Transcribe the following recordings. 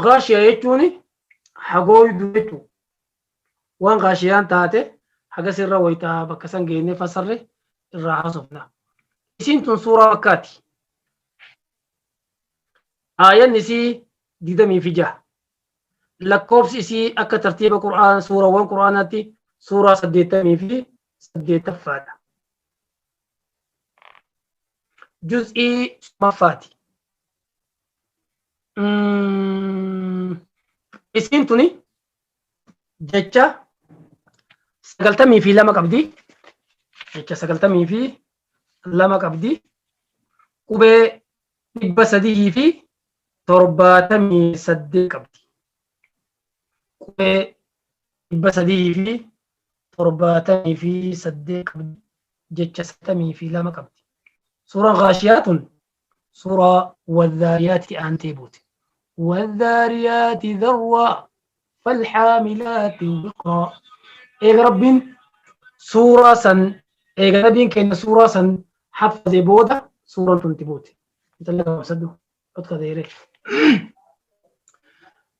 Gaashiya jechuun hagooydu jechuudha. Waan gaashiyaan taate hagas irra wayita bakka san geenye fassarre irraa haasofna. Isiin tun suuraa bakkaati. Aayan isii digdamii fi jaha. Lakkoofsi isii akka tartiiba Qur'aan suurawwan Qur'aanaatti suuraa saddeettamii fi saddeettaffaadha. juz'ii summaffaati. Isiin tuni jecha sagaltamii fi lama qabdi. Jecha sagaltamii fi lama qabdi. Qubee dhibba sadii fi torbaatamii saddeet qabdi. Qubee dhibba sadii fi 78 qabdi. Jecha 92 qabdi. Suuraan Gaashiyaa tun suuraa Wadhaariyaatti aantee buute. Wadhaariyaatti dharwaa falhaamilaatti wiqraa. Eega Rabbiin suuraa san eega Nabiin keenya suuraa san haffazee booda suuraan tun itti buute. Intalli gabaabsadhu. Otka deeree.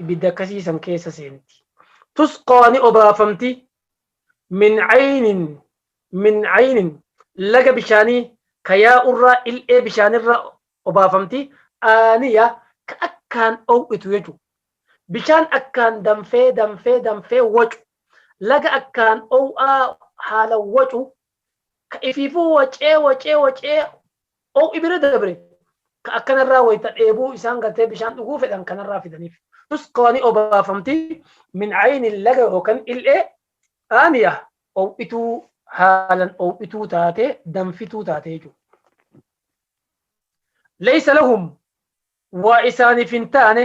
ibidda akkasii san keessa seenti tusqaa ni obaafamti min aynin min aynin laga bishaanii kayaa urraa il'ee bishaanirraa obaafamti aaniya ka akkaan ow'itu jechu bishaan akkaan danfee danfee danfee wacu laga akkaan ow'aa haala wacu ka ifiifuu wacee wacee wacee Ho'i bira dabre ka akkanarraa wayta dheebuu isaan gartee bishaan dhuguu fedhan kanarraa fidaniif. Tusqaa ni obaafamti min aynin laga yookan il'ee aaniya ho'ituu haalan ho'ituu taate danfituu taate jechuudha. Laysa lahum waa isaaniif hin taane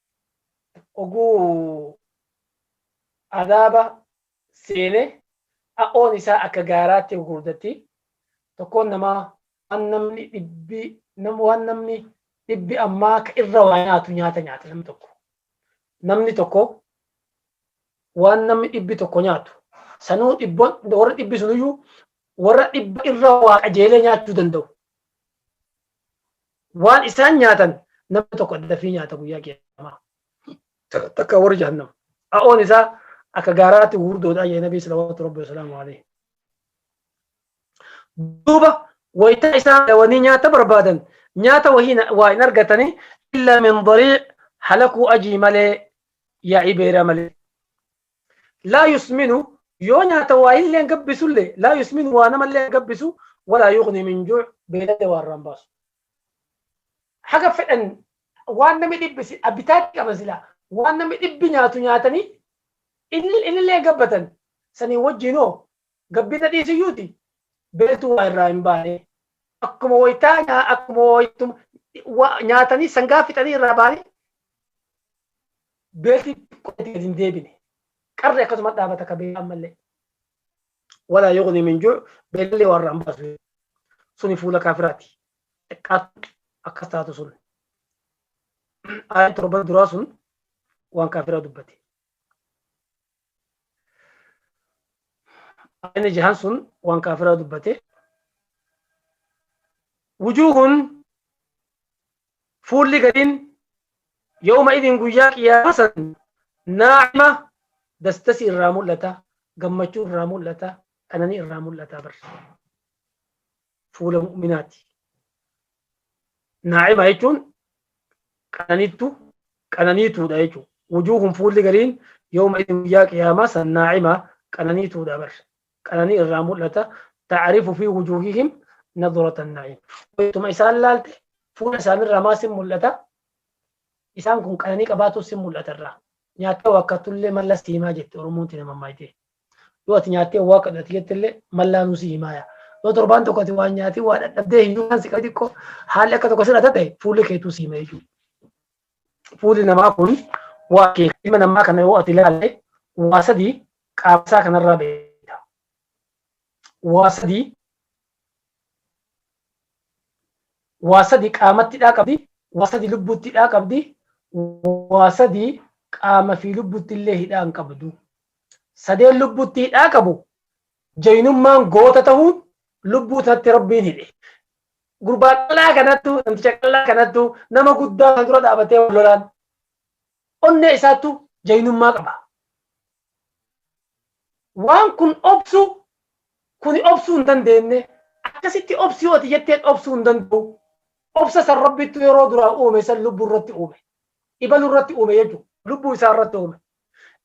oguu adaaba seene a'oon isaa akka gaaraatti gurguddatti tokkoon namaa waan namni dhibbi nam waan namni dhibbi ammaa ka irra waa nyaatu nyaata nyaata namni tokko namni tokko waan namni dhibbi tokko nyaatu sanuu dhibba warra dhibbi suniyyuu warra dhibba irra waa qajeelee nyaachuu danda'u waan isaan nyaatan namni tokko dafii nyaata guyyaa qiyaamaa takka warri jahannam a'oon isaa akka gaaraatti gurguddoodha jedhe nabii salawaatu rabbi wasalaamu alayhi duuba wayita isaan dawanii nyaata barbaadan nyaata wahii na- waa hin argatanii illaa min darii halakuu ajii malee yaa'ii beeraa malee laa yusminu yoo nyaata waa illeen gabbisulle laa yusminu waa namallee gabbisu walaa yuqni min juu beelallee waa irraan baasu haga fedhan waan namni dhibbi si- abbitaatti qaban silaa waan namni dhibbi nyaatu nyaatanii inni- innillee gabbatan sanii wajjinoo Gabbita dhiisiyyuuti beeltuu waa irraa hin baane. Akkuma waytaa nyaa- akkuma waytuma wa- nyaatanii sangaa fixanii irraa baanii beelti qodatti gad hin deebine. Qarri akkasuma dhaabata ka beelaan malee. Walaa yuqni min juu beelallee waa irraa hin baasu. Suni fuula kaafiraati. Xiqqaattu akkas taatu sun. Aayaan torban duraa sun waan kaafiraa dubbate. Ayni jahan sun waan kaafiraa dubbate. Wujuuhun fuulli gariin yooma idin guyyaa qiyyaama san naacima dastasi irraa mul'ata gammachuu irraa mul'ata qananii irraa mul'ata bar. fuula mu'minaati. Naa'ima jechuun qananiittu qananiituudha jechuudha. Wujuuhun fuulli gariin yooma itti guyyaa qiyaamaa san naa'ima qananiituudha bar. Qananii irraa mul'ata. Ta'arifu fi wujuuhihim naduratan naa'im. Wayituma isaan laalte fuula isaanirraa maa sin mul'ata? Isaan kun qananii qabaatus sin mul'ata irraa. Nyaattee waakkatullee mallas siimaa jette Oromoon tina mammaayitee. Yoo ati nyaattee waa kadhate jettillee mallaanuu si himaaya. Yoo torbaan tokko ati waan nyaatee waa dhadhabdee hin nyaataan si qabe xiqqoo haalli akka tokko sirra ta'e fuulli keetuu si hima jechuudha. Fuulli namaa kun waa kee ilma namaa kana yoo ati ilaalle waa sadii qaama isaa kanarraa beekta. Waa sadii waa sadii qaamatti dhaa qabdi, waa sadii lubbuutti dhaa qabdi, waa sadii qaama fi lubbuutti illee hidhaa hin qabdu. sadeen lubbutti hidhaa qabu jaynummaan goota tahuun lubbuu isatti rabbiin hidhe gurbaa qal'aa kanattu namticha qal'aa kanattu nama guddaa kan dura dhaabatee wal lolaan onnee isaattu jaynummaa qaba waan kun obsu kuni obsuu hin dandeenye akkasitti obsi hooti jetteen obsuu hin danda'u obsa san rabbittu yeroo duraa uume san lubbuu irratti uume ibalu irratti uume jechuudha lubbuu isaa irratti uume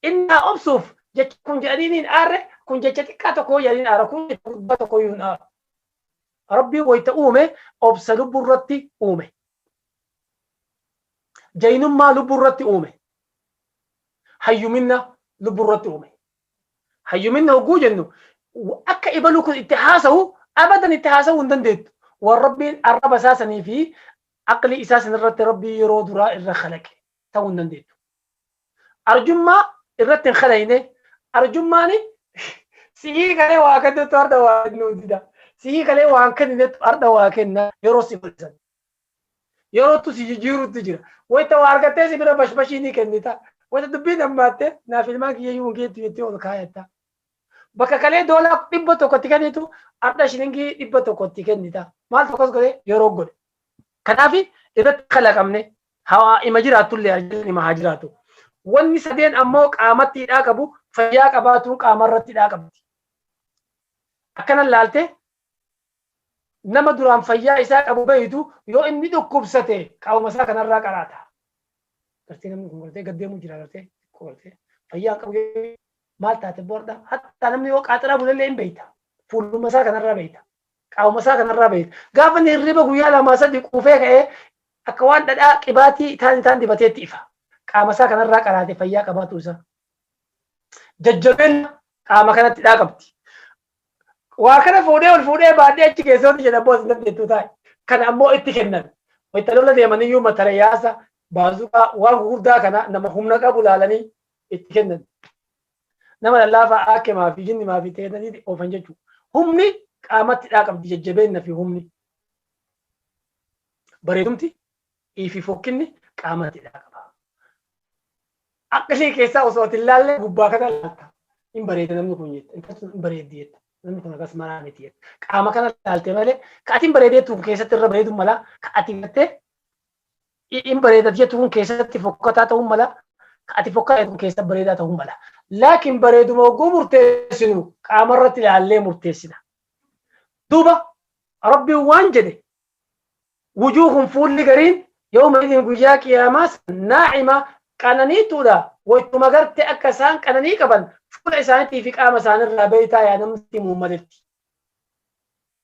Inni haa obsuuf jecha kun jedhanii niin aarre kun jecha xiqqaa tokko jedhanii aara kun jecha guddaa tokko hin aara. Rabbiin wayita uume obsa lubbuu irratti uume. Jaynummaa lubbuu irratti uume. Hayyuminna lubbuu irratti uume. Hayyuminna hogguu jennu akka ibaluu kun itti haasawu abadan itti haasawuu hin dandeettu. Waan rabbiin arraba isaa sanii fi aqlii isaa sanirratti rabbii yeroo duraa irra kalaqe. ta'uu hin dandeettu. Arjummaa irratti hin kadhayne arjummaan sihii kalee waa kennetu har'a waa kennuu dida. Sihii kalee waan kenninetu har'a waa kenna yeroo si bal'isan. Yerootu si jijjiiruutti jira. Wayita waa argattee si bira bashbashii ni kennita. Wayita dubbiin hammaattee naaf ilmaan kiyya iyyuu hin geettu jettee ol kaayatta. Bakka kalee doolaa dhibba tokkotti kennitu har'a shilingii dhibba tokkotti kennita. Maaltu akkas godhe yeroo godhe. Kanaaf irratti kalaqamne hawaa ima jiraatullee arjaan ima haa jiraatu. Wanni sadeen ammoo qaamatti hidhaa qabu fayyaa qabaatuun qaamarratti hidhaa qabdi. Akkana laalte nama duraan fayyaa isaa qabu beeytu yoo inni dhukkubsate qaama isaa kanarraa qaraata. Gartee namni kun gartee gaddeemuu jira gartee xiqqoo gartee fayyaa qabu maal taate boorda hatta namni yoo qaaxiraa bulallee hin beeyta fuuluma isaa kanarraa beeyta qaama isaa kanarraa beekta. Gaafa inni hirriba guyyaa lamaa sadii quufee ka'ee akka waan dhadhaa qibaatii taan isaan dibateetti ifa. Qaama isaa kanarraa qaraate fayyaa qabaatu isaa. Jajjabeen qaama kanatti dhaa qabdi. Waa kana fuudhee ol fuudhee baadhee achi keessooti jedha boos dandeettuu taa'e. Kana ammoo itti kennan. Wayita lola deeman iyyuu matarayaasa baazuqaa waan gurguddaa kana nama humna qabu laalanii itti kennan. Nama lallaafaa aakemaa fi jinnimaa fi teetaniti oofan jechu. Humni qaamatti dhaa qabdi jajjabeenna fi humni. Bareedumti fi fokkinni qaamatti dhaa qaba. Akka ishee keessaa osoo ati ilaalle gubbaa kana laalta. Hin bareeda namni kun jetta. Intalli sun hin bareeddi jetta. Namni kun akkas maraa miti jetta. Qaama kana laalte malee ka ati hin bareedeettu keessatti irra bareedu mala ka ati gattee in bareedaf jettu kun keessatti fokkataa ta'uu mala ka ati fokkataa kun keessa bareedaa ta'uu mala laakiin bareeduma oguu murteessinu qaama irratti ilaallee murteessina duuba rabbiin waan jedhe wujuuhun fuulli gariin yooma idin guyyaa qiyaamaa naa'ima qananiituudha wachuma garte akka isaan qananii qaban fuula isaaniitii fi qaama isaaniirraa beektaa yaa namni muummaletti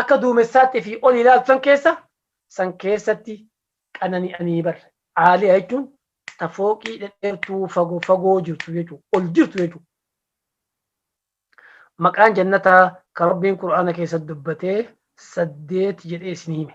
akka duumessaatti fi ol ilaaltu san keessa san keessatti qanani'anii bar aaliya jechuun ta fooqii dhedheertuu fagoo fagoo jirtu jechuudha ol jirtu jechuudha. Maqaan jannataa kan rabbiin qur'aana keessatti dubbatee saddeet jedhee isin hime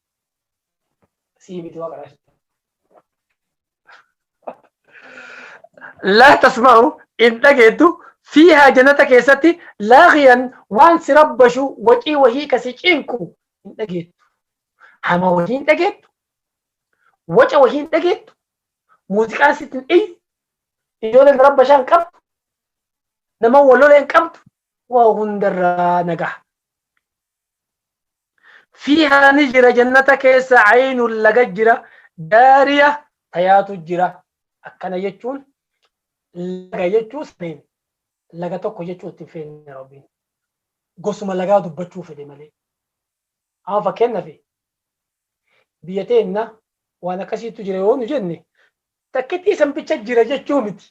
sii miti waqa rashi laa tasma'u hin dhageettu fiihaa jannata keessatti laaqiyan waan si rabbashu wacii wahii ka si cinqu hin dhageettu hama wahii hin dhageettu waca wahii hin dhageettu muuziqaan sitti hin iyyu ijoolleen rabbashaa hin qabdu nama walolee hin qabdu waa hundarraa nagaa Fiihaa ni jira jannata keessa aynun laga jira jaariya tayaatu jira akkana jechuun laga jechuu saniin laga tokko jechuu ittiin feene rabbiin gosuma lagaa dubbachuu fedhe malee amma fakkeenyafi biyya teenna waan akkasiitu jira yoo nu jenne takkittii san bicha jira jechuu miti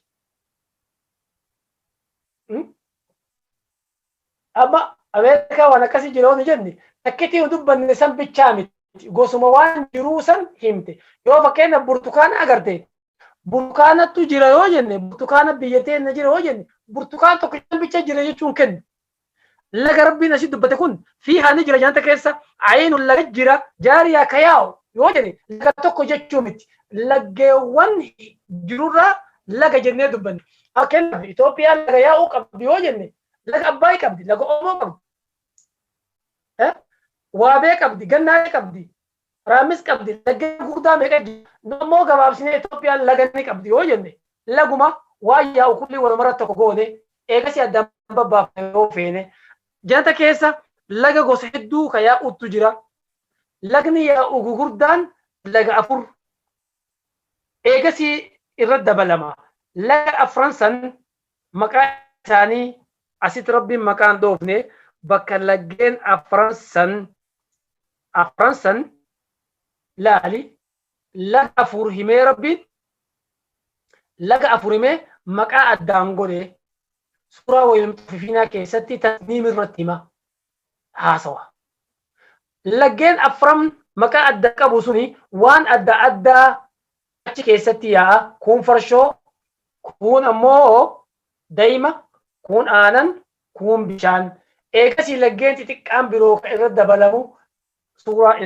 Amma Ameerikaa waan akkasii jira yoo jenne takkitii nu dubbanne san bichaa miti. Gosuma waan jiruu san himte. Yoo fakkeenya burtukaana agarte burtukaanatu jira yoo jenne burtukaana biyya teenya jira yoo jenne burtukaan tokkicha bicha jira jechuun kennu. Laga rabbiin asii dubbate kun fi haani jira nyaata keessa ayiinu laga jira jaariyaa ka yaa'u yoo jenne laga tokko jechuu miti. Laggeewwan jirurraa laga jennee dubbanne. Fakkeenyaaf Itoophiyaan laga yaa'uu qabdi yoo jenne laga Abbaay qabdi, laga Oomoo qabdi. Eh? Waabee qabdi, Gannaalee qabdi, Raammis qabdi, laggeen gurguddaa meeqa jira. Nu ammoo gabaabsinee Itoophiyaan laga ni qabdi yoo jenne laguma waa yaa'u kulli walumarratti tokko goone eegasii addaan babbaafne yoo feene. Janta keessa laga gosa hedduu ka yaa'uutu jira. Lagni yaa'u gugurdaan laga afur. Eegasii irra dabalama. Laga afran san maqaa isaanii asitti Rabbiin maqaa hin dhoofne bakka laggeen afran san afran san laali laga afur himee Rabbiin laga afur himee maqaa addaan godhe suuraa wayil mixaffifiinaa keessatti tasniim irratti hima haasawa. Laggeen afran maqaa addaa qabu suni waan adda addaa achi keessatti yaa'a. Kuun farshoo, kuun ammoo dayma, kuun aanan, kuun bishaan. Eegasii laggeen xixiqqaan biroo ka irra dabalamu suuraa.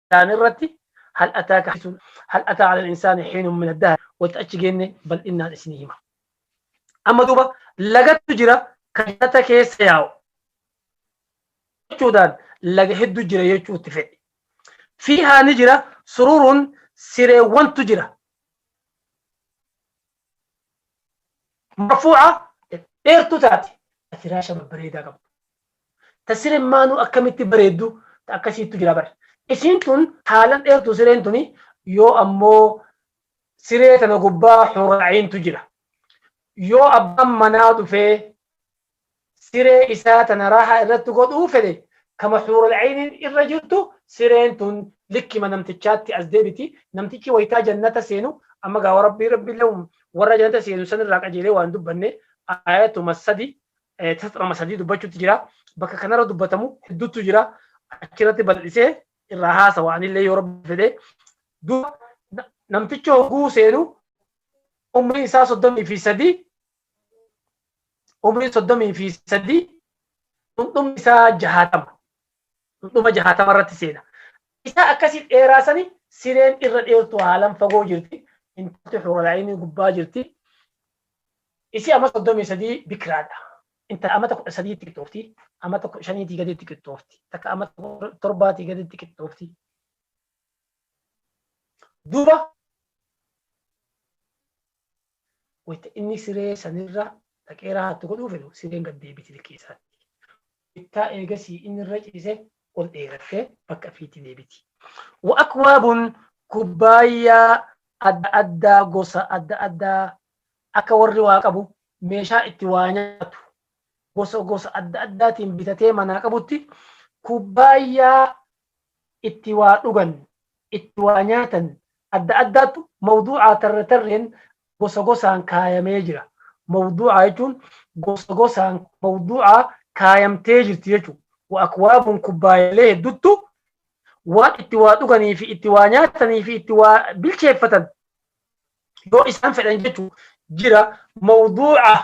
isaanii irratti hal ataa kaasuun hal ataa ala insaanii hiinun min addaa wata achi geenne bal'innaan isinii hima. Amma duuba lagatu jira kan jannata keessa yaa'u. Jechuudhaan laga hedduu jira jechuu itti fedhe. Fiihaa ni jira sururuun sireewwantu jira. marfuuca dheertuu taate ta firaasha babbareedaa qabdu ta sireen maanuu akkamitti bareeddu ta akkasiittu jira bar isiin tun haalan dheertuu sireen tuni yoo ammoo siree tana gubbaa huraa'iintu jira yoo abbaan manaa dhufee siree isaa tana raahaa irratti godhuu fedhe kama huural ayniin irra jirtu sireen tun likkima namtichaatti as deebiti namtichi waytaa jannata seenu amma gaawa rabbii rabbiillee warra jannata seenu san irraa qajeelee waan dubbanne ayatuma sadi tasxirama sadii dubbachuutti jira bakka kanarra dubbatamu hedduutu jira achirratti bal'isee irraa haasawa anillee yoo rabbi fedhe duuba namtichi hogguu seenu umrii isaa soddomii fi sadii umrii soddomii fi sadii dhundhumni isaa jahaatama dhundhuma jahaatama irratti seena isaa akkasii dheeraa sani sireen irra dheertu haalan fagoo jirti intalti huralaayinii gubbaa jirti isii amma soddomii sadii bikiraadha intala amata kudha sadiitti qixxoofti amata kudha shaniitii gaditti qixxoofti takka amata torbaatii gaditti qixxoofti duuba wayita inni siree sanirra dhaqee raahattu godhuu fedhu sireen gad deebiti likkii isaatti. Wayita eegasii inni irra ciise ol dheerattee bakka ifiitti deebiti. Wa akwaabun kubbaayyaa adda addaa gosa adda addaa akka warri waa qabu meeshaa itti waa nyaatu gosa gosa adda addaatiin bitatee manaa qabutti kubbaayyaa itti waa dhugan, itti waa nyaatan adda addaattu mawduu'aa tarre tarreen gosa gosaan kaayamee jira. Mawduu'aa jechuun gosa gosaan mawduu'aa kaayamtee jirti jechu. Wa akwaabun kubbaayalee hedduttu waan itti waa dhuganii fi itti waa nyaatanii fi itti waa bilcheeffatan yoo isaan fedhan jechu jira. Mawduu'aa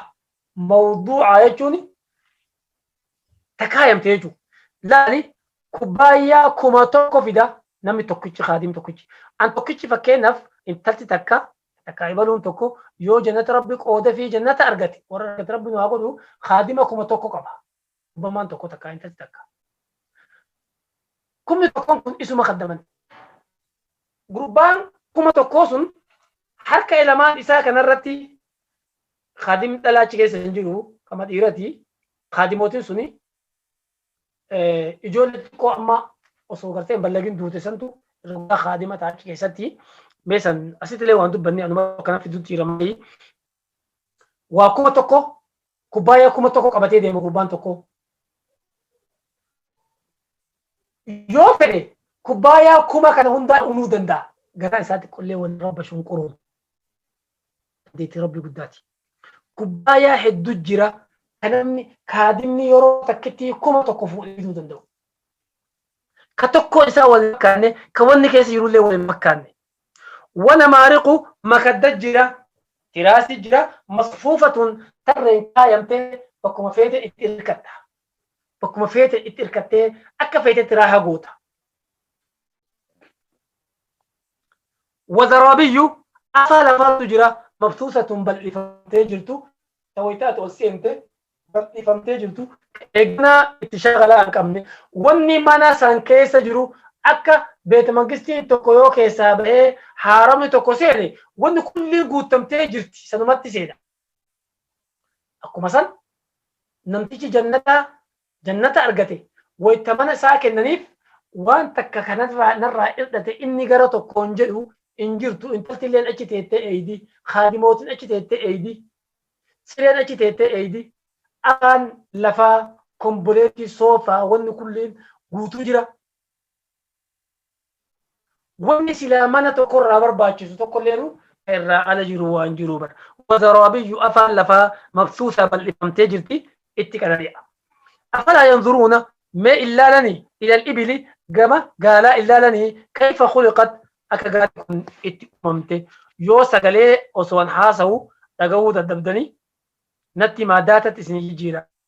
Mawduu'aa jechuun ta kaayamte jechuudha. Laali kubbaayyaa kuma tokko fida namni tokkichi kaadim tokkichi. An tokkichi fakkeenyaaf intalti takka takka ibaluun tokko yoo jannata rabbi qooda fi jannata argate warra argate rabbi nu haa godhu kaadima kuma tokko qaba. Kubbamaan tokko takka intalti takka. Kumni tokkoon kun isuma kaddaman. Gurbaan kuma tokkoo sun harka ilamaan isaa kanarratti Khadim dhala achi keessa hin jiru kama dhiirati. Khadimotin suni ijoollee xiqqoo amma osoo gartee hin ballagin duute santu irra guddaa khaadima ta'a achi keessatti. Mee san asitti illee waan dubbanne anuma kana fidutti hiramanii. Waa kuma tokko kubbaayyaa kuma tokko qabatee deema gurbaan tokko. Yoo fedhe kubbaayyaa kuma kana hundaa unuu danda'a. Garaa isaa xiqqollee waan rabba shunquruun. dandeettii rabbii guddaati. Kubbaayaa heddu jira kan namni kaadimni yeroo takkitti kuma tokko fuudhee fiduu danda'u. Ka tokkoo isaa wal makkaanne ka wanni keessa jirullee wal hin makkaanne. Wana maariqu makadda jira tiraasii jira masfuufatun tarreen kaayamtee bakkuma feete itti irkatta. Bakkuma feete itti irkattee akka feetetti raaha goota. Wazaraabiyyuu, Afaa lamaatu jira, mabsuusatun bal'ifamtee jirtu, ta wayta ati ol seente bal'ifamtee jirtu, ka eeganaa itti shagalaa hin qabne. Wanni mana san keessa jiru akka Beetmangistiin tokko yoo keessaa bahee haaramni tokko seene wanni kulliin guuttamtee jirti sanumatti seena. Akkuma san namtichi jannataa Jannata argate wayta mana isaa kennaniif waan takka ka narraa irdhate inni gara tokkoon jedhu hin jirtu intaltilleen achi teettee eeydi khaadimootin achi teettee eeydi sireen achi teettee eeydi alaan lafaa komboleetii soofaa wanni kulliin guutuu jira Wanni silaa mana tokko irraa barbaachisu tokko illeen ka irraa ala jiru waan jiru bara. Wazaraabiyyu afaan lafaa mabsuusaa bal'ifamtee jirti itti qanani'a. Afalaa yanzuruuna mee illaalani ilal ibili gama gaalaa illaalani kayfa khuliqat akka gaalli kun itti uumamte yoo sagalee osoon haasawu dhagahuu dadhabdanii natti himaa daatatti isinii jijjiira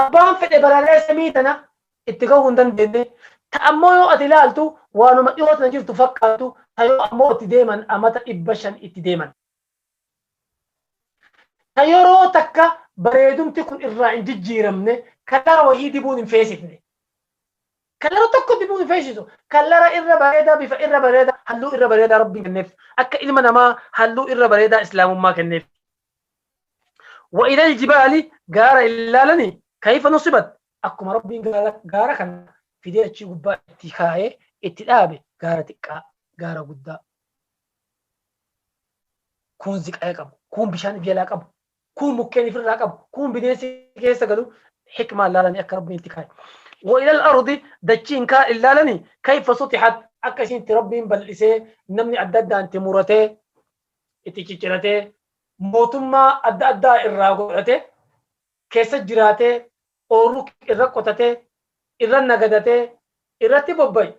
Abbaan fedhe balaa samii tana itti gahuu hin dandeenye, ta ammoo yoo ati ilaaltu waanuma dhihoo tana jirtu fakkaattu, ta yoo ammoo itti deeman amata 500 itti deeman. Ta yeroo takka bareedumti kun irraa hin jijjiiramne, kalara wahii dibuun hin feesifne. Kalara tokko dibuun hin feesisu. Kalara irra bareedaa, bifa irra bareedaa, halluu irra bareedaa Rabbiin kenneef. Akka ilma namaa halluu irra bareedaa Islaamummaa kenneef. wa ilal jibaali gaara illaalani kayfa nusibat akkuma rabbiin gaara kana fidee achii gubbaa itti kaa'ee itti dhaabe gaara xiqqaa gaara guddaa kuun ziqaya qabu kuun bishaan jalaa qabu kuun mukkeen ifirraa qabu kuun bineensi keessa galu hikmaa laalanii akka rabbiin itti kaa'e wa ilal ardi dachiin kaa illaalani kayfa sutixat akka isiin itti rabbiin bal'isee namni adda addaan itti muratee itti cicciratee mootummaa adda addaa irraa godhatee keessa jiraatee ooruu irra qotatee irra nagadatee irratti bobba'i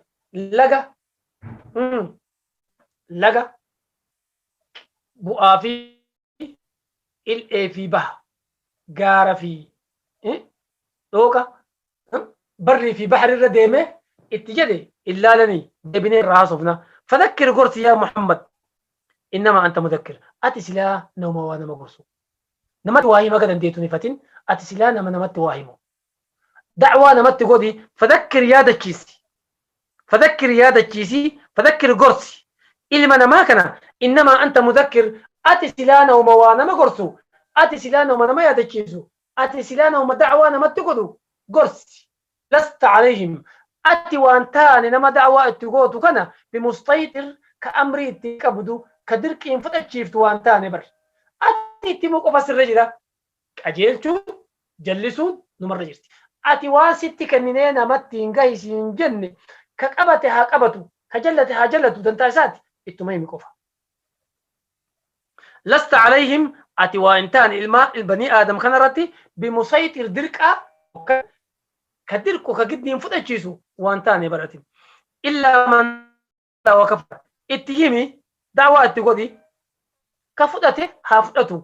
laga laga bu'aa fi il'ee fi baha gaara fi dhooqa barrii fi bahri irra deeme itti jedhe hin laalanii deebinee irraa haasofna fadakkir gorsi yaa muhammad innama anta mudakkir ati silaa nama waa nama gorsu namatti waa hima akka dandeettu hin ifatin ati silaa nama namatti waa himu da'waa namatti godhi fadakkir yaadachiisi fadakkir yaadachiisi fadakkir gorsi ilma namaa kana innama anta mudakkir ati silaa nama waa nama gorsu ati silaa nama nama yaadachiisu Ati silaa namuma da'awaa namatti godhu gorsi. Lasta alayhim. Ati waan taane nama da'awaa itti gootu kana bimustayxir ka amrii itti qabdu, ka dirqiin fudhachiiftu waan taane bar. Ati itti himuu qofa sirra jira. Qajeelchuun, jallisuun numarra jirti. Ati waan sitti kenninee namatti hin gahi siin jenne ka qabate haa qabatu, ka jallate haa jallatu dantaa isaati ittuma himi qofa. Lasta alayhim ati waa hin taane ilmaa banii aadam kana irratti bimusayxir dirqaa yookaan ka dirqu ka giddiin fudhachiisu waan taane bar ati. Illaa man wa kafara itti himi da'waa itti godhi ka fudhate haa fudhatu.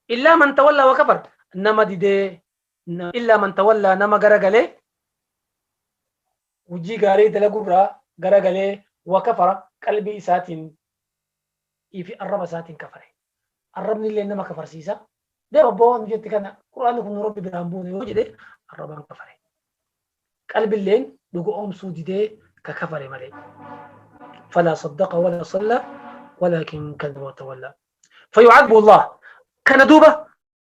Illaa man tawallaa wa kafar nama didee illaa man tawallaa nama garagalee hujii gaarii dalagurraa garagalee wa kafara qalbii isaatiin fi arraba isaatiin kafare. Arrabni illee nama kafarsiisa. Deem abbaa waan jetti kana Qur'aanni kun nu rabbi biraa hin buune yoo jedhe arrabaan kafare. Qalbilleen dhugo'oomsuu didee ka kafare malee. Falaa saddaqa walaa sallaa walaakin kadhaba tawallaa. Fayucadbu Allah. Kana duuba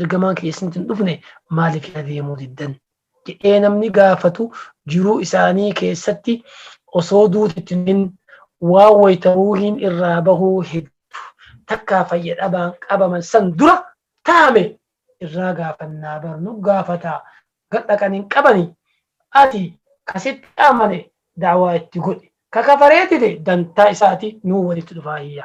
Ergamaan kiyya isinitti hin dhufne maaliif yaa deemuu diddan? jedhee namni gaafatu jiruu isaanii keessatti osoo duuti itti hin himin waan wayita ruuhiin irraa bahuu heddu takkaa fayya dhabaan qabaman san dura taame irraa gaafannaa bar nu gaafataa gad dhaqan hin qabani ati ka sitti amane da'waa itti godhi ka kafaree dide dantaa isaati nuu walitti dhufaa hiyya.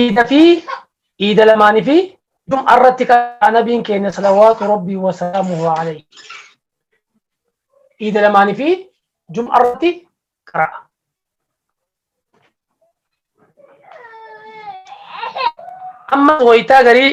iida fi iida lamaanii fi jum'a irratti kan nabiin keenya salawaatu rabbii wasalaamuhu alayhi iida lamaanii fi jum'a irratti qara'a. Ammas wayitaa garii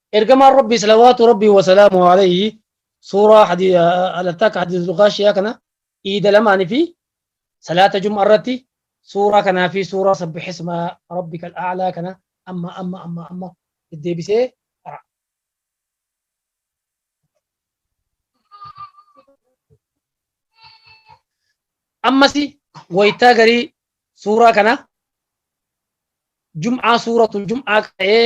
Ergamaan Rabbii salawaatu Rabbii wasalaamu alayhi suuraa hadi- ah, alattaaka hadiisul gaashiyaa kana iida lamaanii fi salaata jum'a irratti suuraa kanaa fi suuraa sabbihisma rabbika al'aalaa kana amma amma amma amma deddeebisee qara. Ammasi waytaa garii suuraa kana jum'aa suuratul jum'aa ta'ee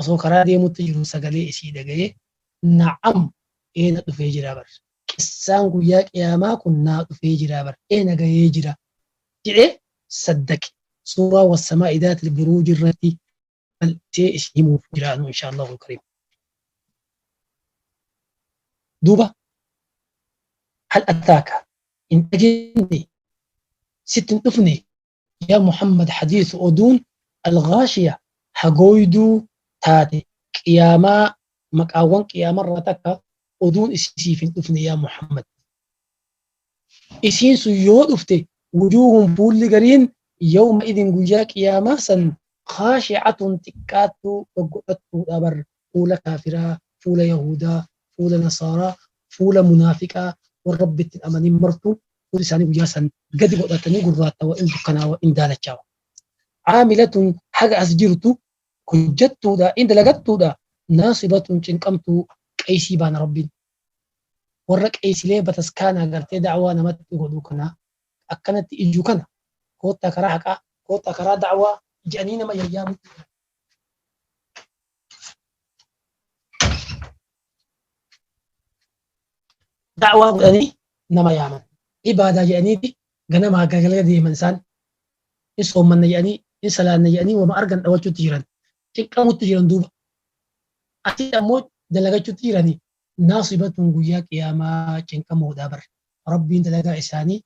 osoo karaa deemutti jiruu sagalee isii dhagayee na'am ee na dhufee jiraa bar qissaan guyyaa qiyaamaa kun naa dhufee jiraa bar ee na gayee jira jedhee saddaqe suuraa wassamaa'i daatil buruuji irratti bal'isee isin himuuf jira anuu inshaa Allahu kariim duuba hal ataaka hin dhageenye sitti hin dhufne Yaa Muhammad hadiisi oduun Al-Ghaashiya hagooyduu taate qiyaamaa maqaawwan qiyaamarraa takka oduun isii siif hin dhufne yaa Muhammad. Isiin sun yoo dhufte wujuuhun fuulli gariin yawma idhin guyyaa qiyaamaa san khaashi'atun xiqqaattuu goggodhattuudha bar fuula kaafiraa, fuula yahuudaa, fuula nasaaraa, fuula munaafiqaa warra Rabbitti hin amanin martuu fuuli isaanii guyyaa san gadi godhatanii gurraattawa, in dukkanaawa, in daalachaawa. Aamilatun haga as jirtu hojjattuudha, in dalagattuudha, naasibatun cinqamtuu qeeysii baana Rabbiin warra qeeysilee bataskaanaa gartee da'awaa namatti godhu kana ka akkanatti iyyu kana koottaa karaa haqaa, koottaa karaa da'awaa jedhanii nama yayyaamutti jiran. da'waa godhanii nama yaaman ibaadaa jedhaniiti ganamaa galgala deeman isaan in soommanna jedhanii in salaanna jedhanii wama argan dhawachuutti jiran cinqamuutti jiran duuba asii ammoo dalagachuutti jiranii naasibatuun guyyaa qiyaamaa cinqamoodhaa bar rabbiin dalagaa isaanii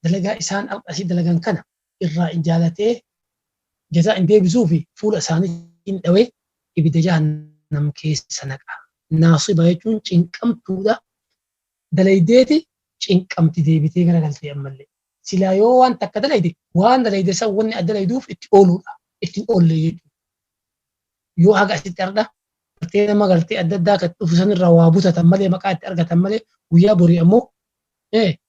dalagaa isaan asii dalagan kana irraa in jaalatee, jazaa in deebisuu fi fuula isaanii in dhawee ibidda jahannam keessa naqa. Naasiba jechuun cinqamtuudha, dalaydeeti cinqamti deebitee garagaltee ammallee. Silaa yoo waan takka dalayde waan dalayde san wanni adda dalayduuf itti ooluudha, itti hin oolle jechuudha. Yoo haga asitti ardha galtee nama galtee adda addaa kan dhufu sanirraa waa butatan malee maqaa itti argatan malee guyyaa borii ammoo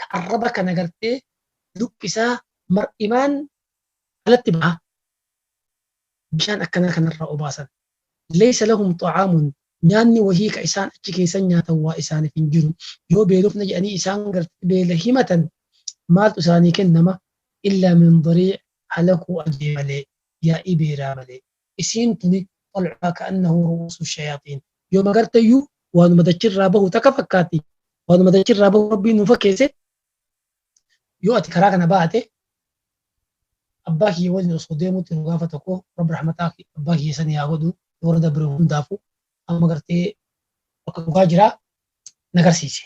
ka arraba kana gartee lukki isaa mar'imaan alatti baha bishaan akkanaa kanarraa obaasan. Laysa lahum xa'aamun nyaanni wahii ka isaan achi keeysan nyaatan waa isaaniif hin jiru. Yoo beelofne jedhanii isaan gartee beela himatan maaltu isaanii kennama? Illaa min dariic halakuu ajee malee, yaa'ii beelaa malee. isiin tuni tal'uhaa ka'annahu ru'uusu shayaaxiin yooma garteyyuu waanuma dachirraa bahu takka fakkaatti waanuma dachirraa bahu rabbiin nu fakkeesse yoo ati karaa kana baate abbaa kiyya waliin osoo deemutti nu gaafa tokko rabbi rahmataa abbaa kiyya sanii haa godhu warra dabre hundaafu amma gartee bakka dhugaa jira na garsiise.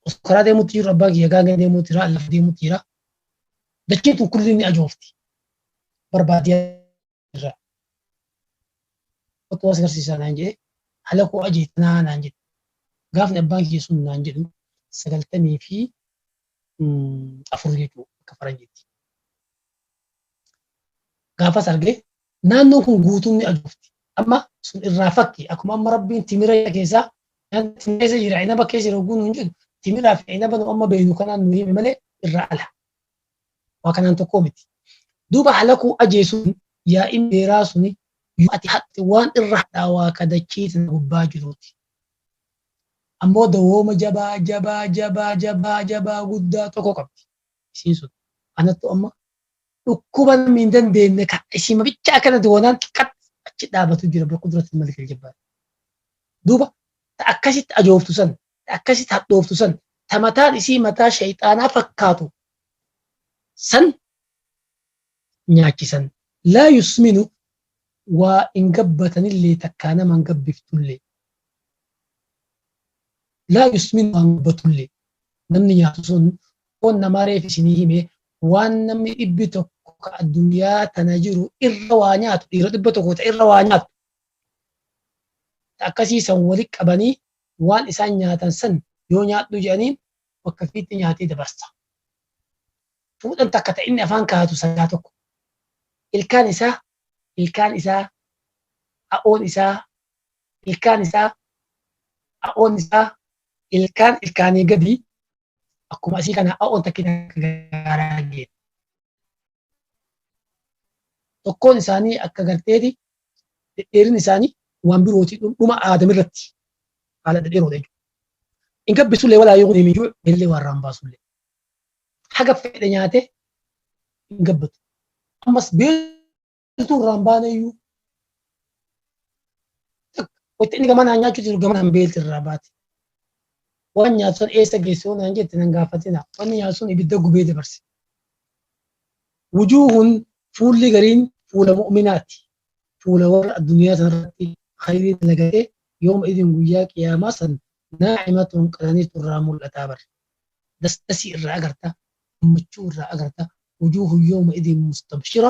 Osoo karaa deemutti jiru abbaan kiyya gaangee deemutti jira lafa deemutti jira. Dachiin tun kulli ni ajoofti. Barbaadee irra. Otoo as garsiisaa naan jedhee haala koo ajeetanaa naan jedhe. Gaafni abbaan kiyya sun naan jedhu sagaltamii fi afur jechuudha akka faranjiitti. gaafas arge naannoon kun guutuun ni ajoofti. Amma sun irraa fakki akkuma amma rabbiin timira keessaa timira keessa jira inaba keessa jira oguu nuun jedhu timiraa fi inaba nu amma beeknu kanaan nu hime malee irraa ala. Waa kanaan tokkoo miti. Duuba halakuu ajeesuun yaa'iin beeraa suni yoo ati haqxe waan irra hadhaawaa ka dachii tana gubbaa jiruuti. Ammoo dawooma jabaa jabaa jabaa jabaa jabaa guddaa tokko qabdi. isiin sun anattu amma dhukkuba namni hin dandeenye kan isiima bicha akkanatti wanaan xiqqat achi dhaabatu jira bakka duratti malik aljabbaar duuba ta akkasitti ajooftu san ta akkasitti hadhooftu san ta mataan isii mataa shayxaanaa fakkaatu san nyaachisan laa yusminu waa hin gabbatanillee takkaa nama hin gabbiftullee Laa yusminu waan gubbatullee. Namni nyaatu sun foon namaa reef isinii hime waan namni dhibbi tokko ka addunyaa tana jiru irra waa nyaatu dhiira dhibba tokko ta irra waa nyaatu. Ta akkasii san walitti qabanii waan isaan nyaatan san yoo nyaadhu jedhaniin bakka fiitti nyaatee dabarsa. Fuudhan takka ta inni afaan kaa'atu sangaa tokko. Ilkaan isaa ilkaan isaa ha'oon isaa ilkaan isaa a'oon isaa ilkaan ilkaanii gadi akkuma asii kana a'oon takkin akka gaaraa geeti. Tokkoon isaanii akka garteeti dhedheerin isaanii waan birooti dhuma aadam irratti haala dhedheeroodha jechuudha. Hin gabbisullee walaa yoo deemee jiru illee waan raan baasullee. Haga fedhe nyaatee hin gabbatu. Ammas beela Utuu irraan baane iyyuu wacce inni gama naan nyaachuu jiru gama naan beelti irraa baate. Waan nyaatu san eessa geessee naan jette nan gaafatina. Wanni nyaatu sun ibidda gubee dabarse. Wujuuhun fuulli gariin fuula mu'minaati. Fuula warra addunyaa sanarratti khayrii dalagatee yooma idin guyyaa qiyaamaa san naa'imatuun qananiitu irraa mul'ataa bar. Dasdasii irraa agarta, gammachuu irraa agarta. Wujuuhun yooma idin mustabshira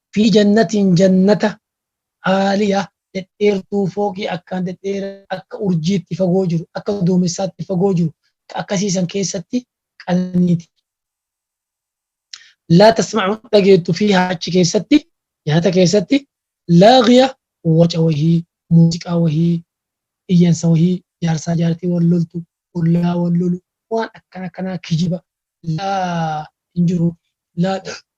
Fi jannatiin jannata Aaliya dhedheertuu fooqii akkaan dhedheeraa akka urjiitti fagoo jiru, akka duumessaatti fagoo jiru ka akkasii san keessatti qananii ti. Laa tasma'u hin dhageettu fiihaa achi keessatti, jannata keessatti, laaghiya waca wahii, muuziqaa wahii, iyyansa wahii, jaarsaa jaartii wal loltu, ollaa wal lolu, waan akkana akkanaa kijiba, laa hin jiru, laa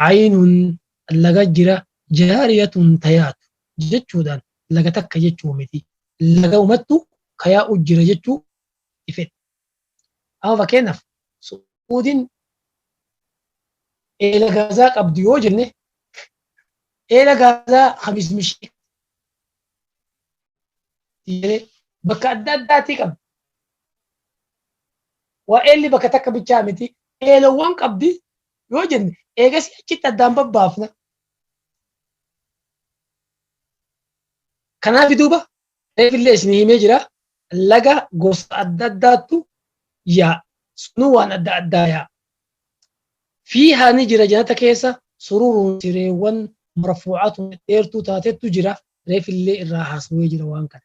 Caynun laga jira jaariyatun ta yaatu jechuudhaan laga takka jechuu miti. Lagaumattu ka yaa'u jira jechuu ti fedhe. Amma fakkeenyaaf Su'uudiin eela Gaazaa qabdu yoo jenne eela Gaazaa ka Mismishii ti jedhee bakka adda addaatii qabdi. Waa eelli bakka takka bichaa miti. Eelawwan qabdi yoo jenne eegasii achitti addaan babbaafna. Kanaaf duuba reefillee isin himee jira laga gosa adda addaattu yaa sunuu waan adda addaa yaa. Fi haani jira janata keessa sururuun sireewwan marfuucatu dheertuu taatettu jira reefillee irraa haasawee jira waan kana.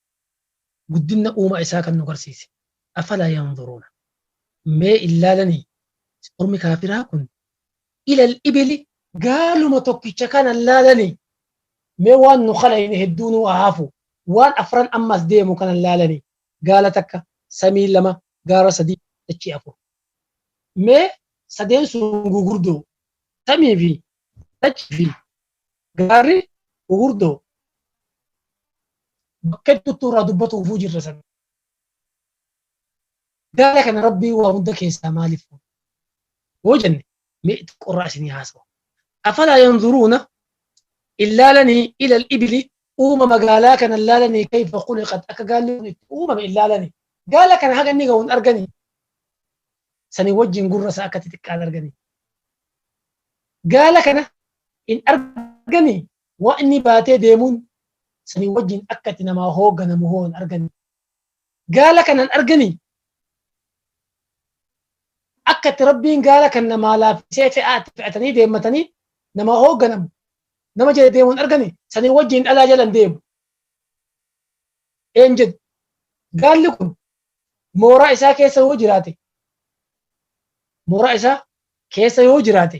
guddinna uumaa isaa kan nu garsiise. Afalaa yanzuruuna mee illaalanii ormi kaafiraa kun ilal ibili gaaluma tokkicha kana illaalanii mee waan nu kalayne hedduu nuu ahafu waan afran amma as deemu kana illaalanii gaala takka samii lama gaara sadii dachii afur mee sadeen sun gugurdoo samii fi Waltajjii fi gaarri gugurdoo bakka hedduutti irraa dubbatuufuu jirra sana. Gaara kana rabbii waa hunda keessaa maaliif fuudha? Yoo jenne mee xiqqoo irraa isinii haasawa. Afalaa yanzuruuna illaalanii ilal ibili uuma magaalaa kana illaalanii kayfa khuliqat akka gaalli kun itti uumame illaalanii. Gaala kana haga inni ga'uun arganii. Sanii wajjin gurra isaa akka xixiqqaan arganii. gaala kana hin arganii waan inni baatee deemuun sanii wajjin akka itti namaa hoogganamu hoo hin arganii gaala kana hin arganii akka itti rabbiin gaala kan namaa laaffisee fe'aa itti fe'atanii deemmatanii namaa hoogganamu nama jala deemu hin arganii sanii wajjin dhalaa jala hin deemu een jedhu gaalli kun mooraa isaa keessa yoo jiraate mooraa isaa keessa yoo jiraate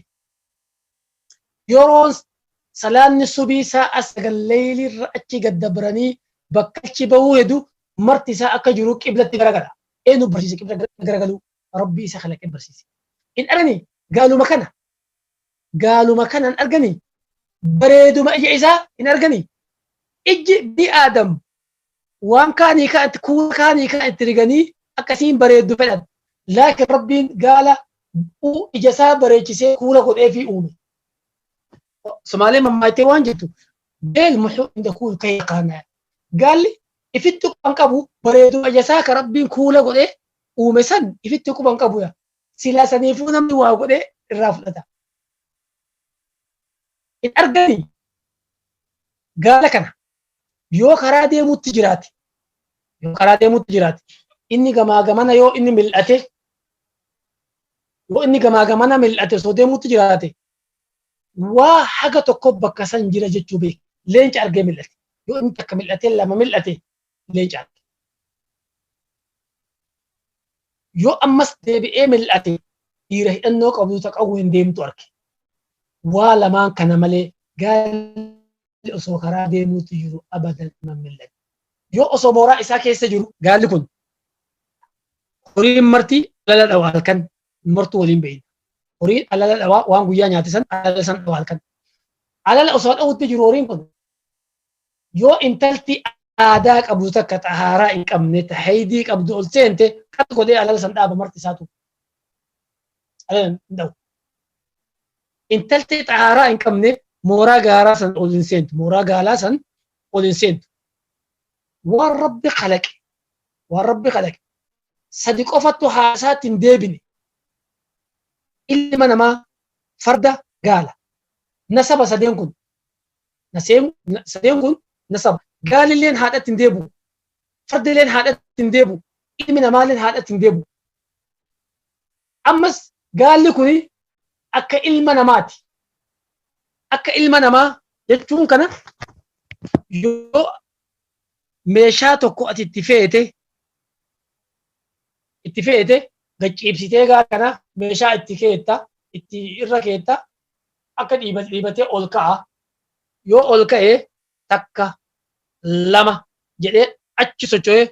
yeroon salaanni subii sa'a sagal leeyliirra achi gad dabranii bakka achi bahuu hedu marti isaa akka jiru qiblatti garagala. Eenyu barsiise qibla garagaluu rabbii isa kalaqee barsiise. In argani gaaluma kana gaaluma kana hin argani bareeduma ija isaa hin argani ijji bi aadam Waan kaan hiikaa itti kuula kaan hiikaa itti riganii akka isiin bareeddu fedhan. Laakin Rabbiin gaala u ija isaa bareechisee kuula godheefii uume. Somaaleen mammaaktee waan jettu beel muxuu inda kuul kayya kaanaa. Gaalli ifitti quban qabu bareeduma ija isaa ka Rabbiin kuula godhee uume san ifitti quban qabu yaa. Silaa saniifuu namni waa godhee irraa fudhata. Hin arganii gaala kana yoo karaa deemuutti jiraate yoo karaa deemuutti jiraate inni gamaa gamana yoo inni mil'ate yoo inni gamaa gamana mil'ate osoo deemuutti jiraate waa haga tokko bakka san jira jechuu beeka leenca argee mil'ate yoo inni takka mil'ate lama mil'ate leenca arge yoo ammas deebi'ee mil'ate dhiira hidhannoo qabu ta qawween deemtu arge waa lamaan kana malee gaalli gaalli osoo karaa deemuutti jiru abadan iman millate. Yoo osoo mooraa isaa keessa jiru gaalli kun horiin marti alala dhawa halkan martuu waliin bahin. Horiin alala dhawa waan guyyaa nyaate san alala san dhawa halkan. Alala osoo dhawutti jiru horiin kun yoo intalti aadaa qabdu takka xahaaraa hin qabne tahaydii qabdu ol seente qas godhee alala san dhaaba marti isaatu. Alala hin dhawu. Intalti xahaaraa hin qabne mooraa gaaraa san ol hin seentu. Mooraa gaalaa san ol hin seentu. Waan Rabbi kalaqe, waan Rabbi kalaqe sadi qofattu haasaatti hin deebine. Ilma namaa farda gaala. Nasaba sadeen kun. Naseen- na- Sadeen kun nasaba. Gaalilleen haadhatti hin deebi'u. Fardilleen haadhatti hin deebi'u. Ilmi namaalleen haadhatti hin deebi'u. Ammas gaalli kuni akka ilma namaati. Akka ilma namaa jechuun kana yoo meeshaa tokko ati itti feete itti feete gachiibsitee gaala kana meeshaa itti keetta itti irra keetta akka dhiibat dhiibatee ol ka'a. Yoo ol ka'e takka lama jedhee achi socho'ee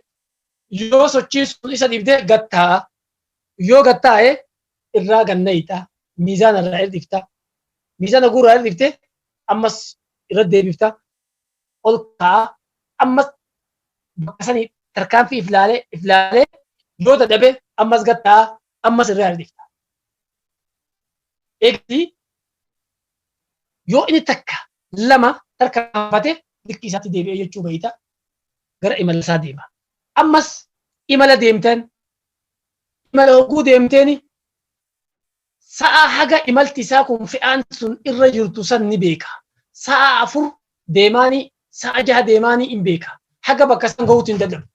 yoo sochii sun isa dhibdee gad taa'a. yoo gad taa'e irraa gad nayxa miizaana irraa hir'ifta miizaana guuraa hir'ifte ammas irra deebifta ol kaa'a ammas bakka sanii tarkaanfii if laalee if laalee yoo dadhabe ammas gad taa'a ammas irraa hir'ifta. Eegdi yoo inni takka lama tarkaanfate likkii isaatti deebi'ee jechuu beeyta gara imala isaa deema. ammas imala deemtan imala hogguu deemteeni sa'a haga imalti isaa kun fe'aan sun irra jirtu san ni beeka sa'a afur deemaani sa'a jaha deemaani hin beeka haga bakka san gahuutti hin dadhabu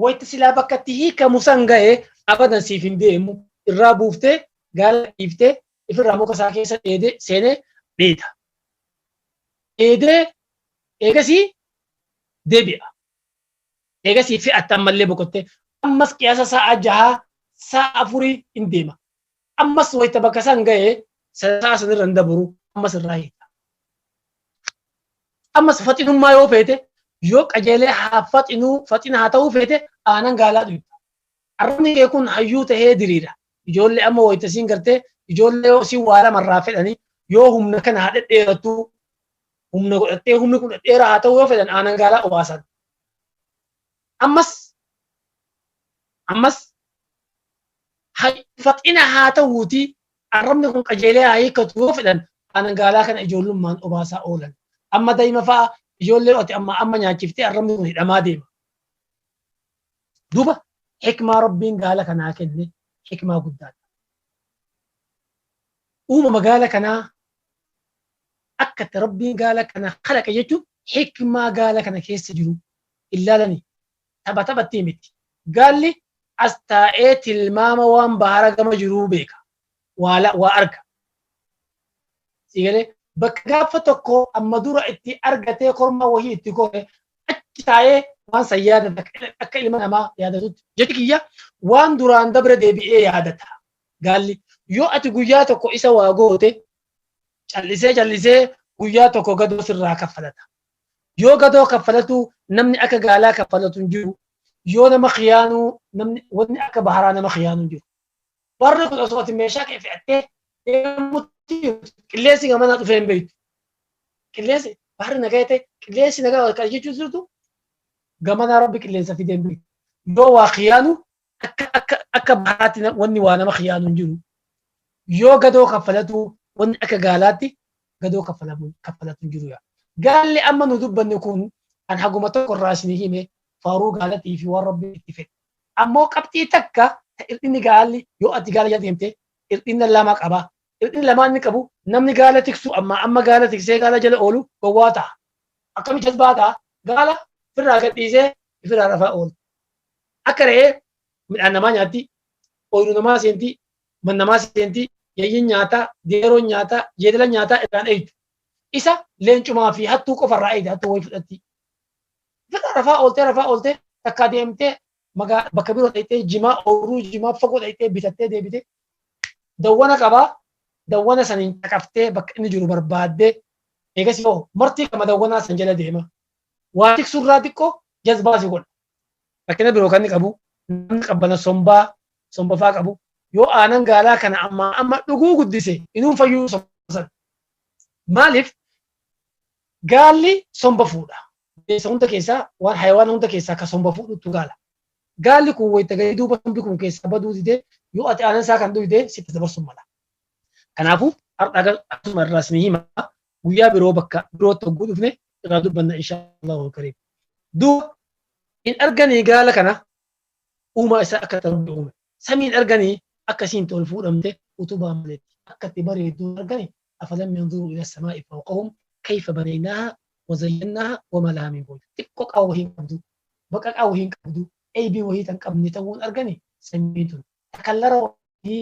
wayta silaa bakka itti hiikamu san gahe abadan siif hin deemu irraa buuftee gaala dhiiftee ifirraa muka isaa keessa dheedee seenee dheeda dheedee eegasii deebi'a Eegasii fe'atte ammallee boqottee ammas qiyaasa saa'aa jahaa saa'aa afurii hin deema. Ammas wayta bakka san gahe saa'aa san irra hin dabru ammas irraa hiika. Ammas faxinummaa yoo feete yoo qajeelee haa faxinuu faxina haa ta'uu feete aanan gaalaa dhuyta. Arrabni kee kun hayyuu tahee diriira. Ijoollee amma wayta siin gartee ijoollee yoo siin waa lamarraa fedhanii yoo humna kana haa dhedheerattuu humna godhattee humni kun dheeraa haa ta'uu yoo fedhan aanan gaalaa obaasan. Ammas ammas faxina haa ta'uuti arrabni kun qajeelee haa hiikkatu yoo fedhan aanan gaalaa kana ijoollummaan obaasaa oolan. Amma daa'ima fa'a ijoollee ati amma amma nyaachiftee arrabni kun hidhamaa deema. Duuba hikmaa rabbiin gaala kanaa kenne hikmaa guddaadha. Uumama gaala kanaa akka itti Rabbiin gaala kana kalaqe jechuun hikmaa gaala kana keessa jiru hin laalani. Tapha taphatti miti. Gaalli as taa'ee tilmaama waan bahara gama jiruu beeka. Waa la- waa arga. Sii galee bakka gaafa tokko amma dura itti argatee kormaa wahii itti kore achi taa'ee waan san yaadata akka- akka ilma namaa yaadatutti. Jechi kiyya waan duraan dabre deebi'ee yaadata. Gaalli yoo ati guyyaa tokko isa waa goote Callisee callisee guyyaa tokko gadoo sirraa kaffalata. Yoo gadoo kaffalatu namni akka gaalaa kaffalatu hin jiru. Yoo nama khiyaanuu namni wanni akka baharaa nama khiyaanuu hin jiru. Barri kun osoo ati meeshaa kee fe'attee deemutti qilleensi gamanaa dhufee hin beektu. Qilleensi baharri nagaa ta'e qilleensi nagaa wal qara jechuun jirtu gamanaa rabbi qilleensa fidee hin beektu. Yoo waa khiyaanu akka akka akka bahaatti na- wanni waa nama khiyaanu hin jiru yoo gadoo kaffalatu wanni akka gaalaatti gadoo kaffalamu kaffalatu hin jiru yaa gaalli amma nu dubbanne kun kan haguma tokko irraa isin hime faaruu gaalatii fi waan rabbi itti fedhe ammoo qabxii takka ta irdhinni gaalli yoo ati gaala jala deemte irdhinna lama qaba irdhinni lamaan inni qabu namni gaala tiksu amma amma gaala tiksee gaala jala oolu gowwaa ta'a akkami jazbaa ta'a gaala firraa gadhiisee ifirraa rafaa oolu Akka re'ee midhaan namaa nyaatti, ooyiruu namaa seenti, man namaa seenti, yayyiin nyaataa, deeroon nyaataa, jeedalan nyaataa irraan eegdu. Isa leencumaa fi hattuu qofa irraa eegda, hattuu wayii fudhatti. Fedha rafaa ooltee rafaa ooltee takkaa deemtee magaa bakka biroo dhaqxee jimaa ooyiruu jimaa fagoo dhaqxee bitattee deebitee dawwana qabaa dawwana saniin caqaftee bakka inni jiru barbaaddee eegas yoo martii qama dawwanaa san jala deema. Waa tiksurraa xiqqoo jazbaa si godha. Rakkina biroo kan inni qabu namni qabbana sombaa somba faa qabu yoo aanan gaalaa kana ammaa amma dhuguu guddise inuu fayyuu somba sana. Maaliif gaalli somba fuudha. Bineensa hunda keessaa waan hayawaana hunda keessaa kan somba fuudhutu gaala. Gaalli kun wayita gadi duuba sombi kun keessaa baduu didee yoo ati aanan isaa kan dhugde sitti dabarsu mala. Kanaafuu har'a akkasuma irraas ni hima guyyaa biroo bakka birootti hogguu dhufne irraa dubbanna inshaallahu kariim duuba hin arganii gaala kana uumaa isaa akka ta'u uume samiin arganii akka isiin tol fuudhamte utubaa maletti akka itti bareedduu argani afalam yanzuru ila samaa'i fawqahum kayfa banaynaaha wazayyannaaha wama laha min fuuj xiqqoo qaba wahii hin qabdu baqaqaa wahii hin qabdu eeybii wahii tan qabne ta'uun argani samiin tun takallara wahii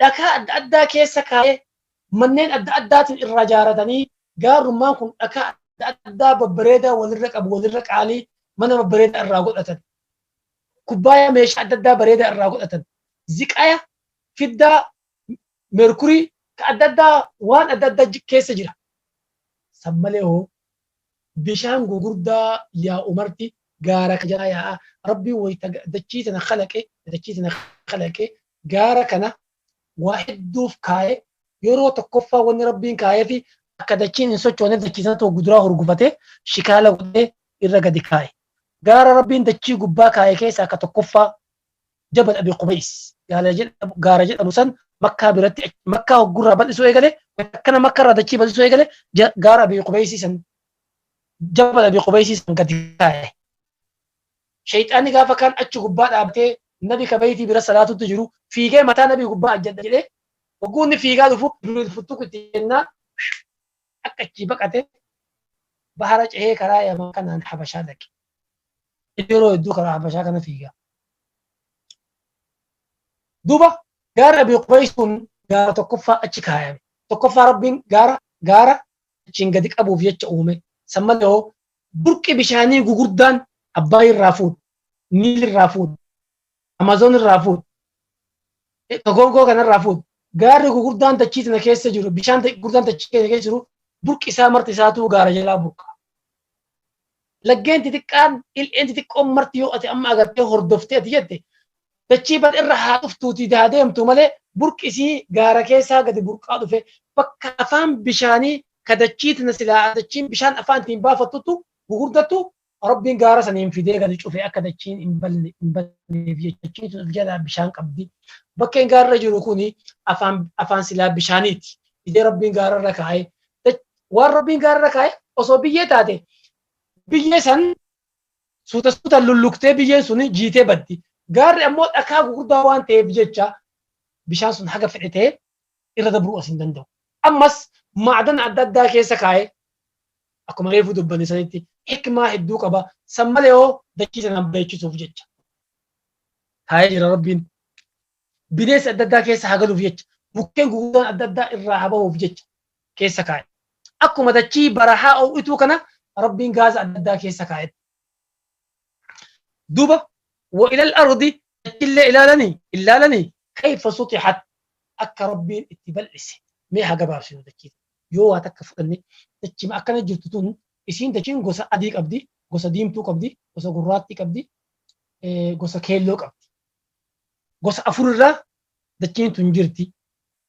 dhakaa adda addaa keessa kaa'ee manneen adda addaatiin irraa jaaratanii gaarrummaan kun dhakaa adda addaa babbareedaa walirra qabu walirra qaalii mana babbareedaa irraa godhatan kubbaaya meeshaa adda addaa bareedaa irraa godhatan ziqaya fiddaa merkurii ka adda addaa waan adda addaa keessa jira san malee hoo Bishaan gugurdaa yaa'u marti gaara kana jalaa yaa'a. Rabbiin wayta dachii tana khalaqe, dachii tana khalaqe, gaara kana waa hedduuf kaaye. Yeroo tokkoffaa wanni Rabbiin kaayeefi akka dachiin hin sochooneef dachii sanatti hogguduraa hurgufatee, shikaala godhee irra gadi kaaye. Gaara Rabbiin dachii gubbaa kaaye keessaa ka tokkoffaa Jabal Abi Qubays gaala jedhamu- gaara jedhamu san makkaa biratti ach- makkaa hoggurraa bal'isuu eegale akkana makkarraa dachii bal'isuu eegale ja- gaara Abi Qubays san jabal Abi Qubays san gadi kaa'e. Shayxaanni gaafa kaan achi gubbaa dhaabbatee nabi kabeetii bira salaatutti jiru fiigee mataa nabi gubbaa ajjadha jedhee hogguu inni fiigaa dhufu Jibriil futtuku itti jennaa akka achii baqate bahara cehee karaa yaman kanaan habashaa dhaqe yeroo hedduu karaa habashaa kana fiigaa duuba gaara abii qubaysuun gaara tokkoffaa achi kaayame tokkoffaa rabbiin gaara gaara achiin gadi qabuuf jecha uume san malee hoo burqi bishaanii gugurdaan abbaa irraa fuudhu niil irraa fuudhu Amazon irraa fuudhu. Tokonkoo kanarraa fuudhu. Gaarri gurguddaan dachii tana keessa jiru, bishaan gurguddaan dachii keenya keessa jiru, burqi isaa marti isaatuu gaara jalaa burqa. Laggeen xixiqqaan, il'een xixiqqoon marti yoo ati amma agartee hordoftee ati jette, dachii bal irra haa dhuftuutii haa deemtu malee burqi isii gaara keessaa gadi burqaa dhufe bakka afaan bishaanii ka dachii tana silaa dachiin bishaan afaan ittiin baafattutu gurguddattu Rabbiin gaara saniin fidee gadi cufee akka dachiin hin balne hin balneef jechuun of jalaa bishaan qabdi. Bakkeen gaarra jiru kuni afaan afaan silaa bishaaniiti. Fidee Rabbiin gaararra kaa'ee dach- waan Rabbiin gaararra kaa'ee osoo biyyee taate biyyee san suuta suutaan lulluktee biyyeen sun jiitee baddi. Gaarri ammoo dhakaa gurguddaa waan ta'eef jecha bishaan sun haga fedhe ta'e irra dabruu as hin danda'u. Ammas maadana adda addaa keessa kaa'ee akkuma reefuu dubbanne sanitti hikmaa hedduu qaba. San malee hoo dachii sanaan bareechisuuf jecha taa'ee jira Rabbiin. Bineensi adda addaa keessa haa galuuf jecha mukkeen guguddaan adda addaa irraa haa bahuuf jecha keessa kaa'e. Akkuma dachii barahaa oo'ituu kana Rabbiin gaaza adda addaa keessa kaa'etti. duba wa ilal ardi dachillee ilaalani illaalani kayfa sutihat akka rabbiin itti bal'ise mee haa gabaabsinu dachii tana yoo waa takka fudhanne dachima akkana jirtu tun isiin dachiin gosa adii qabdi gosa diimtuu qabdi gosa gurraattii qabdi eh, gosa keelloo qabdi gosa afur irraa dachiin tun jirti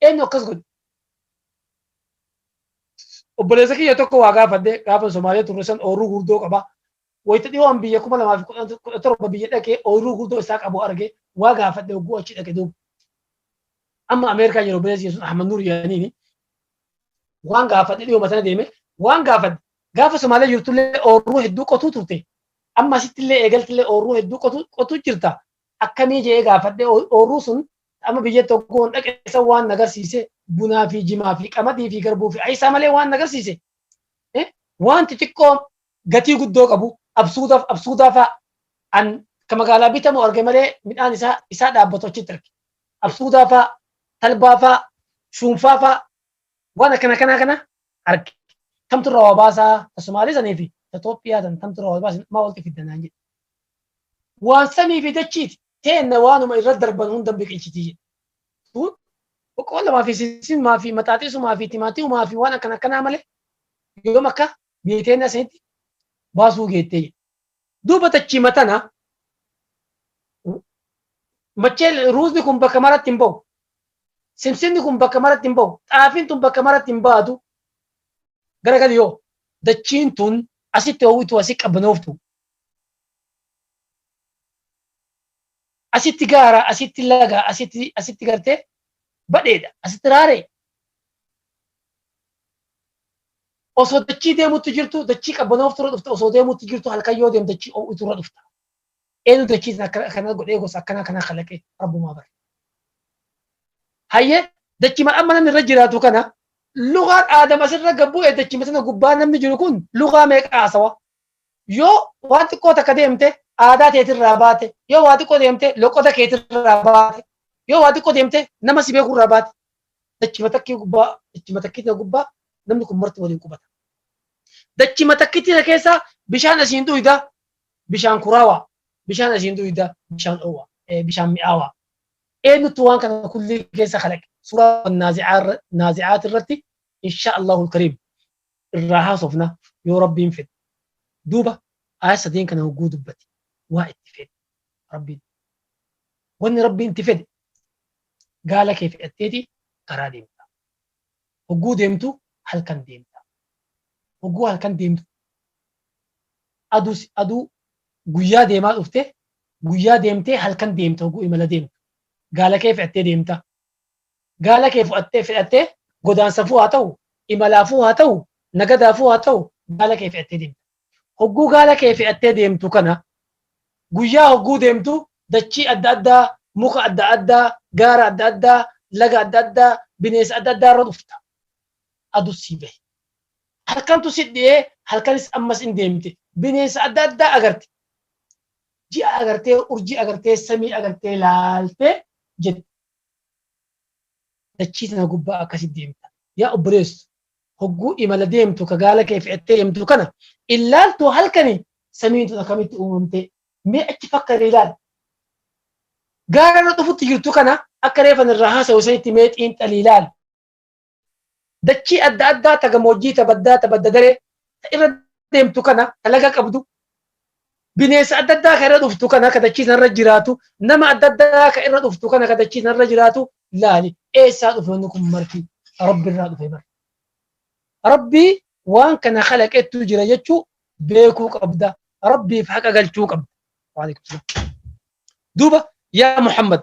Eenyu akkas godhe? Obboleessa kiyya tokko waa gaafadhe gaafa Somaaliyaa turre san ooyiruu guddoo qaba. Wayita dhiyoon biyya kuma lamaa fi kudha torba biyya dhaqee ooyiruu guddoo isaa qabu arge waa gaafadhe hogguu achi dhaqe duuba. Amma Ameerikaa jiru obboleessi kiyya sun Ahmad Nuur jedhaniini. Waan gaafadhe dhiyooma sana deeme waan gaafadhe gaafa Somaaliyaa jirtullee ooyiruu hedduu qotuu turte. Amma asittillee eegaltillee ooyiruu hedduu qotuu qotuu jirta. Akkamii jedhee gaafadhe ooyiruu sun Amma biyya tokkoon dhaqe san waan na garsiise bunaa fi jimaa fi qamadii fi garbuu fi ayisaa malee waan na garsiise eh, waan xixiqqoo gatii guddoo qabu absuudaaf absuudaa fa'a an ka magaalaa bitamu arge malee midhaan isaa isaa dhaabbatu achitti arge. Absuudaa fa'a, talbaa fa'a, shuunfaa fa'a waan akkana kanaa kana arge. Tamtu irraa waa baasaa ta Somaalee sanii fi ta Itoophiyaa tan tamtu irraa waa baasin maa walitti fidda naan jedhe. Waan samii fi dachiiti teenna waanuma irra darban hunda biqilchiti jedhe. Kun boqqoollamaa fi sissimaa fi maxaaxeesumaa fi timaatimumaa fi waan akkana akkanaa malee yoom akka biyya teenna sanitti baasuu geettee jedhe. Duuba dachiima tana macheen ruuzni kun bakka maratti hin bahu. Simsinni kun bakka maratti hin bahu. Xaafiin tun bakka maratti hin baatu. Garagali yoo dachiin tun asitti ho'utu asi qabbanooftu asitti gaara, asitti laga, asitti asitti gartee badheedha, asitti raaree. Osoo dachii deemutti jirtu dachii qabbanooftu irra dhufta, osoo deemutti jirtu halkan yoo deemtu dachii oo'itu irra dhufta. Eenyu dachii sana akkana akkana godhee gosa akkana akkana kalaqee rabbumaa bara. Hayyee dachii mal amma namni irra jiraatu kana lugaan aadam asirra gabbu'e dachii sana gubbaa namni jiru kun lugaa meeqa haasawa? Yoo waan xiqqoo takka deemte aadaa teetirraa baate, yoo waa xiqqoo deemte loqoda keetirraa baate, yoo waa xiqqoo deemte nama si beekurraa baate, dachima takkii gubbaa, dachima takkiitina gubbaa namni kun marti waliin qubata. Dachima takkiitina keessaa bishaan asiin dhuyda, bishaan kuraawaa, bishaan asiin dhuyda, bishaan dhoowwaa, bishaan mi'aawaa. Eenyutu waan kana kulli keessa kalaqe? Suuraa naazi'aat irratti inshaa Allahul Kariim. irraa haasofna yoo Rabbiin fedhe. Duuba aayat sadeen kana hogguu dubbate waa itti fedhe Rabbiin. Wanni Rabbiin itti fedhe gaala kee fedhatteeti karaa deemta. Hogguu deemtu halkan deemta. Hogguu halkan deemtu aduu aduu guyyaa deemaa dhufte guyyaa deemtee halkan deemta hogguu imala deemtu. Gaala kee fedhattee deemta. Gaala kee fu'attee, fe'attee, godaansaafuu haa ta'u, imalaafuu haa ta'u, nagadaafuu haa ta'u, gaala kee fe'attee deemta. Hogguu gaala kee fe'attee deemtu kana, guyyaa hogguu deemtu dachii adda addaa, muka adda addaa, gaara adda addaa, laga adda addaa, bineensa adda addaa irra dhufta. Adus sii bahe. Halkantu si dhi'ee, halkanis ammas in deemte. Bineensa adda addaa agarte. Ji'a agartee, urjii agartee, samii agartee laaltee jette. dachii tana gubbaa akkasi deemta. Yaa obboleessu hogguu imala deemtu ka gaala kee fe'attee deemtu kana illaaltuu halkani samiin tun akkamitti uumamtee mee achi fakkari ilaali. Gaara irra dhufutti jirtu kana akka reefan irraa haasa'u sanitti mee xiinxali ilaali. Dachii adda addaa ta gamoojjii, ta baddaa, ta badda daree, ta irra deemtu kana, ta laga qabdu, bineensa adda addaa ka irra dhuftu kana, ka dachii tanarra jiraatu, nama adda addaa ka irra dhuftu kana, ka dachii tanarra jiraatu laali. Eessaa dhufe wanni kun marti? Rabbirraa dhufe bar. Rabbii waan kana khalaqettu jira jechuu beekuu qabda. Rabbiif haqa galchuu qabda. Waalaikum salaam. Duuba yaa Muhammad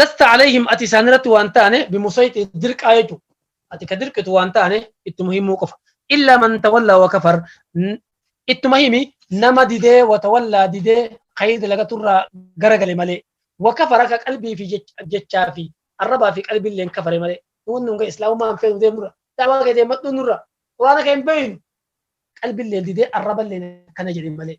lasta alayhim ati isaan irratti waan taane bimusayxi dirqaa jechu ati ka dirqitu waan taane ittuma himuu qofa illaa man tawallaa wa kafar N- ittuma himi nama didee wa tawallaa didee khayri dalagaturraa garagale malee wa kafara ka qalbii fi jech- jechaa fi arrabaa fi qalbiilleen kafare malee nuun nunga islaamummaan feenu deemnurra dawaa kee deemadhuu nurra quraana kee hin beeynu qalbiilleen didee arraballeen akkana jedhe malee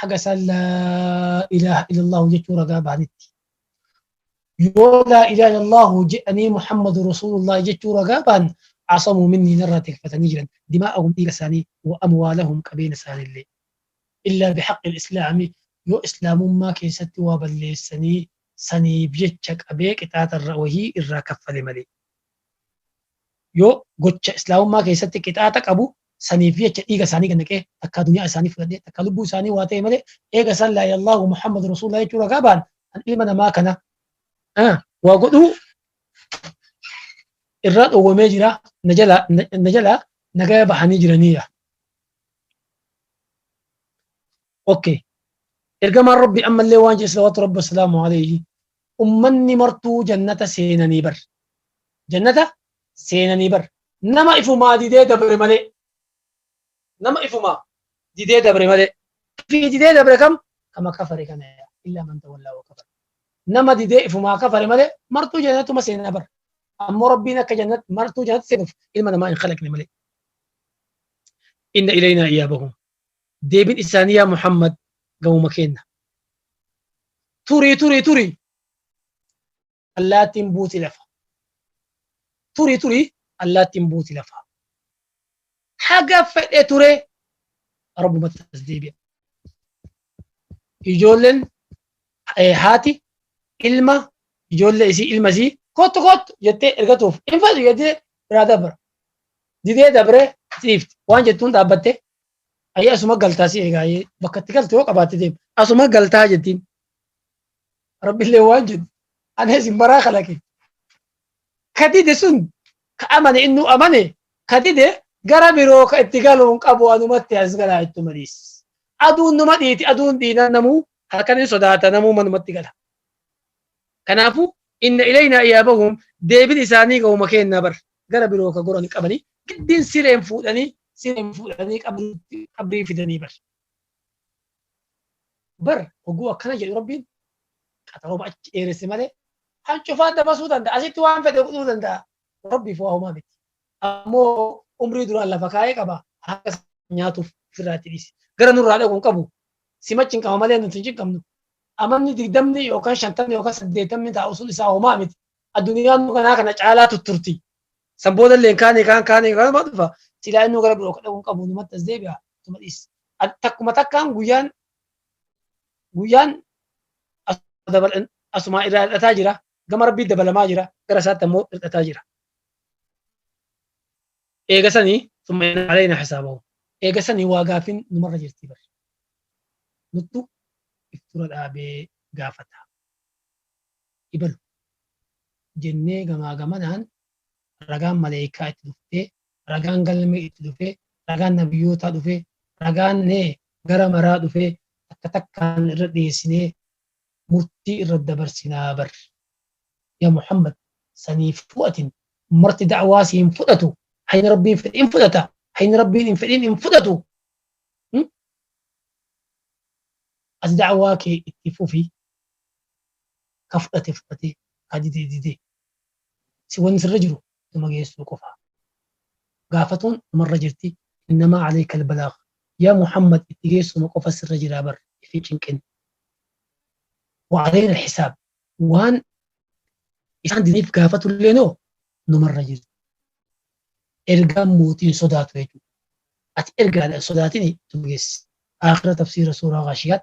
haga isaan laa ilaaha illallahu jechuu ragaa bahanitti yoo laa ilaaha illallahu jedhanii muhammadu rasuulullahi jechuu ragaa bahan asamuu minnii narraa tikfatanii jiran dimaa'ahum dhiiga isaanii wa amwaalahum qabeenya isaaniillee illaa bihaqqi islaami yoo islaamummaa keessatti waa balleessanii saniif jecha qabee qixaaxarra wahii irraa kaffale malee yoo gocha islaamummaa keessatti qixaaxa qabu saniif jecha dhiiga isaanii gad naqee takkaa duniyaa isaanii fudhadhee takkaa lubbuu isaanii waa ta'e malee eega isaan laa ilaaha muhammad rasuulullah jechuu ragaa ba'an an ilma namaa kana ah, waa godhuu irraa dhowwamee jira na jalaa na- na jalaa nagaya bahanii jiraniira. Okay. Ergamaan Rabbi ammallee waan jedhe salawaatu Rabbi wasalaamu alayhi. ummanni martuu jannata seenanii bar. Jannata seenanii bar. Nama ifumaa didee dabre malee. Nama ifumaa didee dabre malee. Fi didee dabre kam? Kama kafare kana yaa. Illaa man tawallaa wa kafare. Nama didee ifumaa kafare malee martuu jannatuma seenaa bar. Ammoo Rabbiin akka jannat martuu jannat seenuuf ilma namaa hin khalaqne malee. Inna ilaynaa iyaabahum. Deebin isaanii yaa Muhammad gamuma keenna. Turi turi turi allaattiin buuti lafa. Turi turi allaattiin buuti lafa. Haga fedhe ture Rabbumatti as deebi'a. Ijoolleen eh, haati ilma ijoollee isii ilma isii kottu kottu jettee ergatuuf hin fedhu jettee biraa dabra. Didee dabree siifti waan jettuun dhaabbattee Ayyee asuma galtaa si eegaa ayyee bakka itti galte yoo qabaatte deema. Asuma galtaa jettiin. Rabbillee waan jedhu. Ana isin baraa kalaqe. Ka dide sun ka amane innuu amane ka dide gara biroo ka itti galuun qabu anumatti as galaa itti maliis. Aduun numa dhiiti aduun dhiinan namuu halkan hin sodaata namuu manumatti gala. Kanaafuu inna ilaynaa iyaabahuum deebin isaanii gahuma keennaa bar gara biroo ka goran qabanii giddiin sireen fuudhanii sireen fuudhanii qabriitti qabrii fidanii bar. Bar hogguu akkana jedhu rabbiin qaxaroma achi dheeresse malee kan cufaa dabarsuu danda'a asitti waan fedhe godhuu danda'a rabbiif waa homaa miti. Ammoo umrii duraan lafa kaa'ee qaba haqa isaa nyaatuuf ofirraa itti dhiise. Gara nurraa dhaqu hin qabu. Sima cinqama malee nuti hin cinqamnu. Amanni digdamni yookaan shantamni yookaan saddeettamni taa'u sun isaa homaa miti. Addunyaan kanaa kana caalaa tutturti. San booda illee kaanii kaan kaanii kanuma dhufa. Silaa innuu gara biroo dhaquu hin qabu numatti as deebi'a tuma dhiis. Takkuma takkaan guyyaan guyyaan asumaa irraa hir'ataa jira. Gama rabbii dabalamaa jira. Gara isaatti ammoo hir'ataa jira. Eega sanii summa inna alayna hisaabahum. Eega sanii waa gaafin numarra jirtii bar. Nuttu if dura dhaabee gaafata. Ibalu. Jennee gamaa gamanaan ragaan maleeykaa itti dhuftee, ragaan galmee itti dhufee, ragaan nabiyyootaa dhufee, ragaan nee gara maraa dhufee takka takkaan irra dhiyeessinee murtii irra dabarsinaa bar ya muhammad saniifuu atin marti da'waa si hin fudhatu hayni rabbiin fedhe hin fudhata hayni rabbiin hin fedhin hin fudhatu ati da'waa kee itti fufi ka fudhate fudhate ka dide dide si wanni sirra jiru ittuma geessuu qofa. Gaafatuun dhumarra jirti, innamaa aleykal balaagh, yaa Muhammad itti geessuma qofa sirra jira bar if hin cinqin. Wa aleynal hisaab, waan isaan didaniif gaafatulleeno numarra jirti. Ergaan mootii hin sodaatu jechuudha. Ati ergaadha hin sodaatini ittuma geessi. Aakhira Tafsiira Suuraa Ghaashiyaat